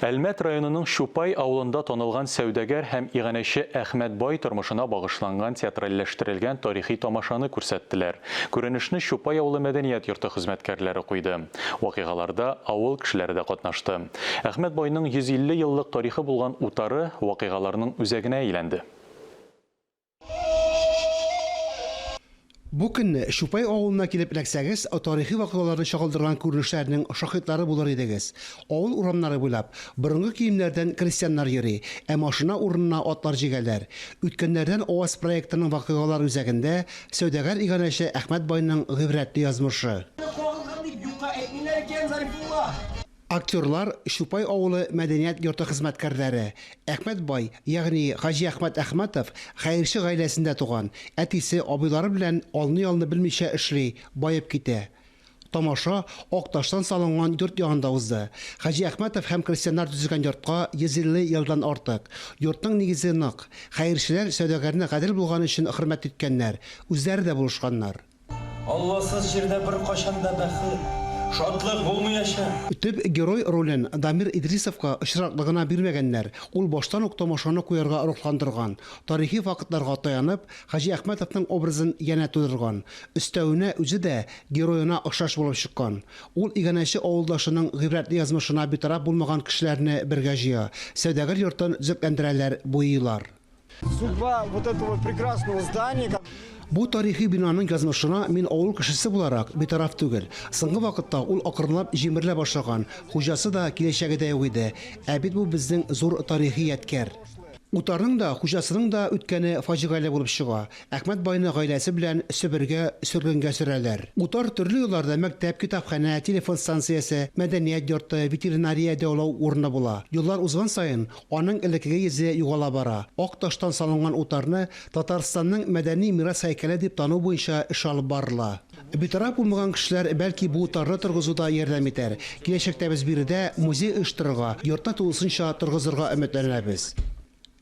Әлмәт районының Чупай авылында танылган сәүдәгәр һәм иганәче Әхмәт бай тормышына багышланган театральләштерелгән тарихи тамашаны күрсәттеләр. Күренешне Чупай авылы мәдәният йорты хезмәткәрләре куйды. Вакыйгаларда авыл кешеләре дә катнашты. Әхмәт байның 150 еллык тарихы булган утары вакыйгаларның үзәгенә әйләнде. Бу көнне Чупай авылына килеп эләксәгез, тарихи вакыйгаларны чагылдырган күренешләрнең шаһитлары булыр идегез. Авыл урамнары буйлап борынгы киемнәрдән крестьяннар йөри, ә машина урынына атлар җигәләр. Үткәннәрдән АОС проектының вакыйгалар үзәгендә сәүдәгәр иганәче Әхмәт байның гыйбрәтле язмышы. Аны кагылган дип юкка әйтмиләр икән, Зарифулла. Актерлар Чупай авылы мәдәният йорты хезмәткәрләре. Әхмәт бай, ягъни Хаҗи Әхмәт Әхмәтов, хәерче гаиләсендә туган. Әтисе, абыйлары белән алны-ялны белмичә эшли, баеп китә. Тамаша ак таштан салынган йорт янында узды. Хаҗи Әхмәтов һәм крестьяннар төзегән йортка 150 елдан артык. Йортның нигезе нык. Хәерчеләр сәүдәгәрне гадел булган өчен хөрмәт иткәннәр, үзләре дә булышканнар. Алласыз җирдә беркайчан да бәхет, шатлык булмыячак. Төп герой ролен Дамир Идрисовка очраклы гына бирмәгәннәр, ул баштан ук тамашаны куярга рухландырган, тарихи фактларга таянып, Хаҗи Әхмәтовның образын янә тудырган. Өстәвенә, үзе дә героена охшаш булып чыккан. Ул иганәче авылдашының гыйбрәтле язмышына битараф булмаган кешеләрне бергә җыя, сәүдәгәр йортын төзекләндерәләр, буйыйлар. Судьба вот этого прекрасного здания. Бу тарихи бинаның язмышына мин авыл кешесе буларак битараф түгел. Соңгы вакытта ул акрынлап җимерелә башлаган, хуҗасы да киләчәге дә юк иде. Ә бит бу безнең зур тарихи ядкәр. Утарның да, хуҗасының да үткәне фаҗигале булып чыга. Әхмәт байны гаиләсе белән Себергә, сөргенгә сөрәләр. Утар төрле елларда мәктәп, китапханә, телефон станциясе, мәдәният йорты, ветеринария дәвалау урыны була. Еллар узган саен, Аның элеккеге йөзе югала бара. Ак таштан салынган утарны Татарстанның мәдәни мирас һәйкәле дип тану буенча эш алып барыла. Битараф булмаган кешеләр, бәлки, бу утарны торгызуда ярдәм итәр. Киләчәктә без биредә музей оештырырга, йортны тулысынча торгызырга өметләнәбез.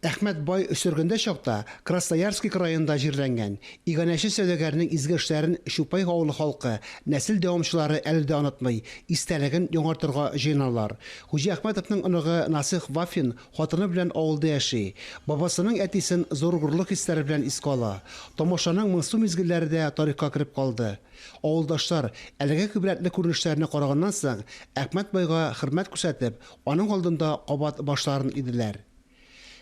Әхмәт бай сөргендә чакта Красноярски краенда җирләнгән. Иганәче сәүдәгәрнең изге эшләрен Чупай авылы халкы, нәсел дәвамчылары әле дә онытмый, истәлеген яңартырга җыеналар. Хуҗи Әхмәтовның оныгы Насыйх Вафин хатыны белән авылда яши. Бабасының әтисен зур горурлык хисләре белән искә ала. Тамашаның моңсу мизгелләре дә тарихка кереп калды. Авылдашлар, әлеге гыйбрәтле күренешләрне караганнан соң, Әхмәт байга хөрмәт күрсәтеп, аның алдында кабат башларын иделәр.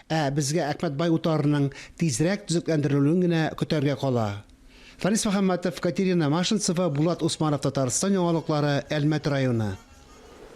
Ә безгә Әхмәт бай утарының тизрәк төзекләндерелүен генә көтәргә кала. Фәнис Мөхәммәтов, Катерина Машинцева, Булат Усманов Татарстан яңалыклары, Әлмәт районы.